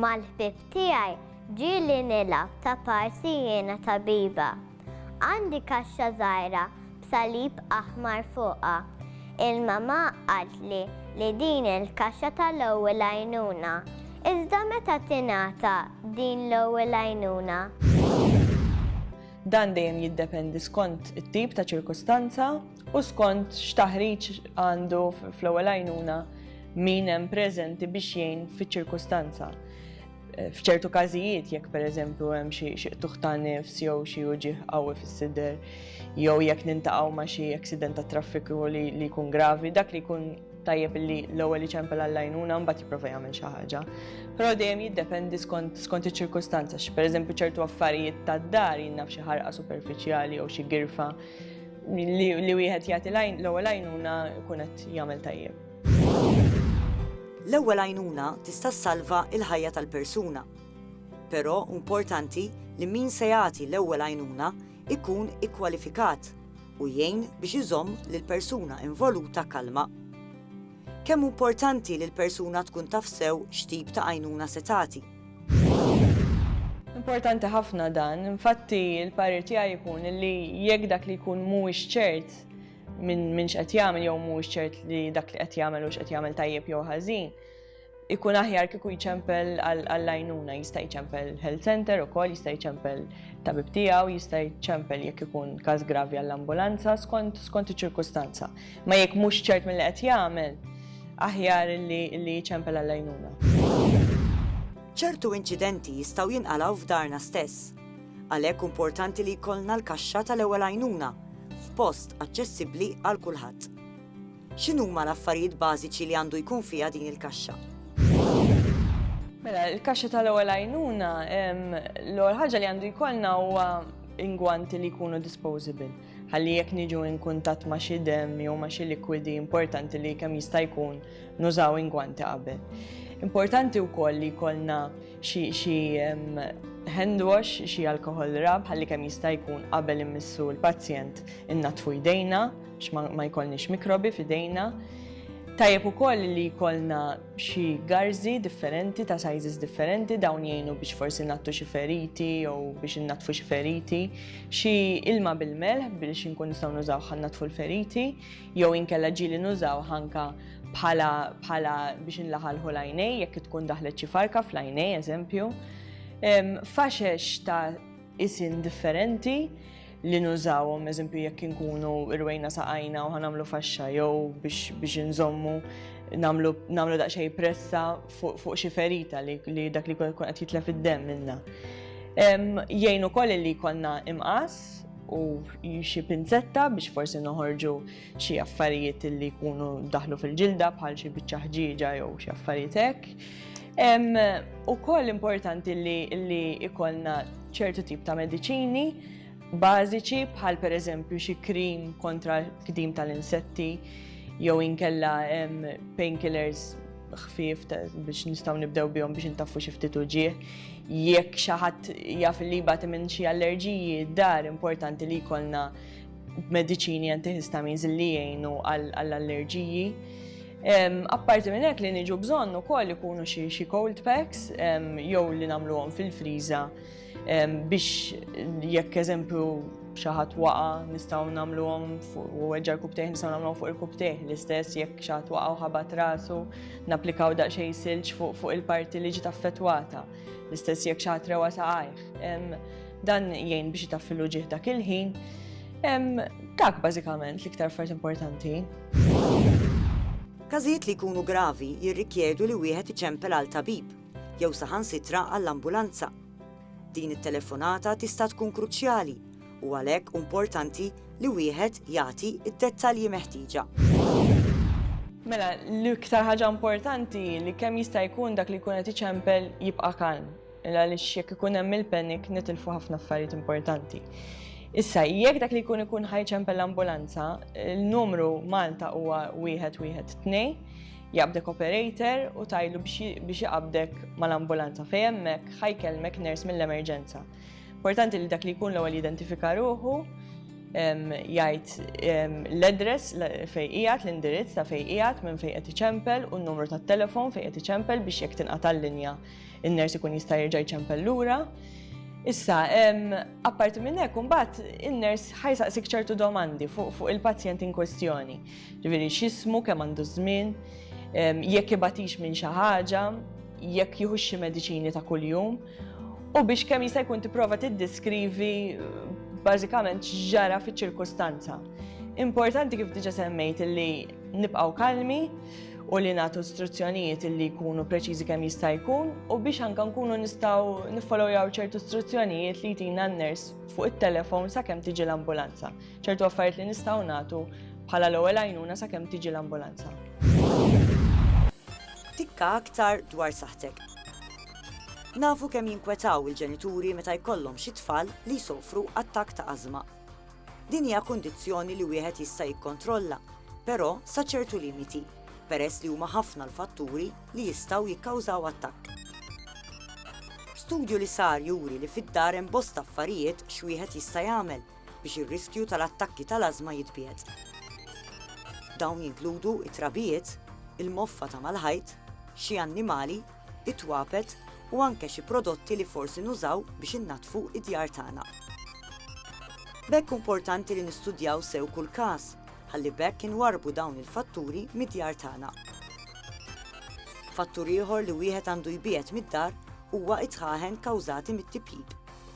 Mal-ħbieb tiegħi ġieli nilgħab ta' parsi jiena tabiba. Għandi kaxxa żgħira b'salib aħmar fuqha. Il-mamà qaltli li din il-kaxxa tal-ewwel għajnuna. Iżda meta tingħata din l-ewwel għajnuna? Dan dejjem jiddependi skont it-tip ta' ċirkustanza. u skont x'taħriġ għandu fl-ewwel għajnuna min hemm preżenti biex jgħin fiċ-ċirkustanza. Eh, f'ċertu każijiet jekk pereżempju hemm xi qtuħ ta' nifs jew xi uġieħ qawwi fis-sider jew jekk nintaqgħu ma' xi aksident ta' traffiku li jkun gravi, dak li jkun tajjeb li l-ewwel iċempel għall-għajnuna mbagħad jipprova jagħmel xi ħaġa. Però dejjem jiddependi skont skont iċ-ċirkustanza, x'pereżempju ċertu affarijiet tad-dar jinnaf xi ħarqa superfiċjali jew xi girfa li wieħed jagħti l-ewwel għajnuna jkun qed jagħmel tajjeb. L-ewwel għajnuna tista' ssalva l-ħajja tal-persuna. Però importanti li min se jagħti l-ewwel għajnuna ikun ikkwalifikat u jgħin biex iżomm lil persuna involuta kalma. Kemm importanti li l-persuna tkun taf sew x'tip ta' għajnuna se tagħti. Importanti ħafna dan, infatti l-parir tiegħi jkun li jekk dak li jkun mhuwiex ċert minn min x'qed jagħmel jew mhuwiex ċert li dak li qed jagħmel u x'qed jagħmel tajjeb jew ħażin, ikun aħjar kieku jċempel għall-għajnuna, jista' jċempel health center ukoll, jista' jċempel tabib tiegħu, jista' jċempel jekk ikun każ gravi għall-ambulanza skont iċ-ċirkustanza. Ma jekk mhux ċert milli qed jagħmel, aħjar li li jċempel għall-għajnuna. Ċertu inċidenti jistgħu jinqalgħu f'darna stess. Għalhekk importanti li jkollna l-kaxxa tal-ewwel għajnuna f'post aċċessibbli għal kulħadd. X'inhuma l-affarijiet bażiċi li għandu jkun fiha din il-kaxxa? Mela, il-kaxxa tal-ewwel għajnuna, l-ewwel ħaġa li għandu jkollna huwa ingwanti li jkunu disposable. ħalli jekk niġu in kuntatt ma' xi demm jew ma' xi likwidi importanti li kemm jista' jkun nużaw ingwanti qabel. Importanti wkoll li jkollna xi hand wash, xi alkohol rab ħalli kemm jista' jkun qabel immissu l-pazjent innatfu jdejna ma jkollniex mikrobi f'idejna. Tajjeb ukoll li jkollna xi garzi differenti ta' sizes differenti dawn jgħinu biex forsi nattu xi feriti jew biex innatfu xi feriti. Xi ilma bil-melħ biex inkun nistgħu nużaw ħa natfu l-feriti, jew inkella ġieli nużaw ħanka bħala bħala biex inlaħalħu l-għajnej jekk tkun daħlet xi farka fl-għajnej eżempju. Faxex ta' isin differenti li nużawhom, eżempju jekk inkunu irwejna saqajna u ħanamlu faxxa jew biex inżommu namlu daqsxejn pressa fuq xi ferita li dak li jkun qed jitlef id-demm minna. Jgħin ukoll li jkollna imqas u xi pinzetta biex forsi noħorġu xi affarijiet li jkunu daħlu fil-ġilda bħal xi biċċa ħġieġa jew xi affarijiet hekk. Ukoll importanti li jkollna ċertu tip ta' mediċini bażiċi bħal pereżempju xi krim kontra l-kdim tal-insetti jew inkella painkillers ħfief biex nistgħu nibdew bihom biex intaffu xi ftit uġieħ. Jekk xi ħadd jaf li jbati minn xi allerġiji dar importanti li jkollna mediċini antihistamins li jgħinu għall-allerġiji. Apparti minn hekk li niġu bżonn ukoll ikunu xi cold packs jew li nagħmluhom fil-friża Biex jekk eżempju xi ħadd waqa' nistgħu nagħmluhom fuq u weġġa' l-kubtejh nistgħu nagħmluhom fuq il-kubtejh l-istess jekk xi ħadd waqa' u ħabat rasu napplikaw daqsxejn silġ fuq il-parti li ġiet affettwata. L-istess jekk xi ħadd rewa saqajh. Dan jgħin biex itaffilu ġieħ dak il-ħin. Dak bażikament l-iktar affarijiet importanti. Każijiet li jkunu gravi jirrikjedu li wieħed iċempel għal tabib. jew saħansitra għall-ambulanza. Din it-telefonata tista' tkun kruċjali u għalhekk hu importanti li wieħed jagħti d-dettalji meħtieġa. Mela, l-iktar ħaġa importanti li kemm jista' jkun dak li jkun qed iċempel jibqa' kalm. Illa li jekk ikun hemm il-panic nitilfu ħafna affarijiet importanti. Issa, jekk dak li jkun ikun ħajċempel l-ambulanza, il-numru Malta huwa wieħed wieħed tnej, Jaqbdek operator u tgħidlu biex iqabdek mal-ambulanza fejn hemmhekk ħa jkellmek nurse mill-emerġenza. Importanti li dak li jkun l-ewwel jidentifika ruħu, jgħid l-address fejn qiegħed, l-indirizz ta' fejn qiegħed, minn fejn qed iċempel u n-numru tat-telefon fejn qed iċempel biex jekk tinqata' l-linja in-ners ikun jista' jerġa' jċempel lura. Issa, apparti minn hekk imbagħad in-ners ħajsaqsik ċertu domandi fuq il-pazjent in kwestjoni. Ġifieri x'ismu, kemm għandu ż-żmien, jekk ibatix minn xi ħaġa, jekk jieħux xi mediċini ta' kuljum, u biex kemm jista' jkun tipprova tiddeskrivi bażikament x'ġara fiċ-ċirkustanza. Importanti kif diġa semmejt li nibqgħu kalmi u li nagħtu istruzzjonijiet li jkunu preċiżi kemm jista' jkun u biex anke nkunu nistgħu niffolowjaw ċertu istruzzjonijiet li jtina n-ners fuq it-telefon sakemm tiġi l-ambulanza. ċertu affarijiet li nistgħu nagħtu bħala l-ewwel għajnuna sakemm tiġi l-ambulanza. Tikka aktar dwar saħtek. Nafu kemm jinkwetaw il-ġenituri meta jkollhom xi tfal li jsofru attak ta' ażma. Din hija kundizzjoni li wieħed jista' jikkontrolla, però sa ċertu limiti, peress li huma ħafna l-fatturi li jistgħu jikkawżaw attakk. Studju li sar juri li fid-dar hemm bosta affarijiet x'wieħed jista' jagħmel biex ir-riskju tal-attakki tal-ażma jitbiegħed. Dawn jinkludu t-trabijiet, il-moffa ta' mal-ħajt, xi annimali, it-twapet u anke xi prodotti li forsi nużaw biex innaddfu d-djar tagħna. B'hekk importanti li nistudjaw sew kull każ ħalli b'hekk inwarrbu dawn il-fatturi mid-djar tagħna. Fattur ieħor li wieħed għandu jbiegħed mid-dar huwa t-tħaħen kawżati mit-tipjip.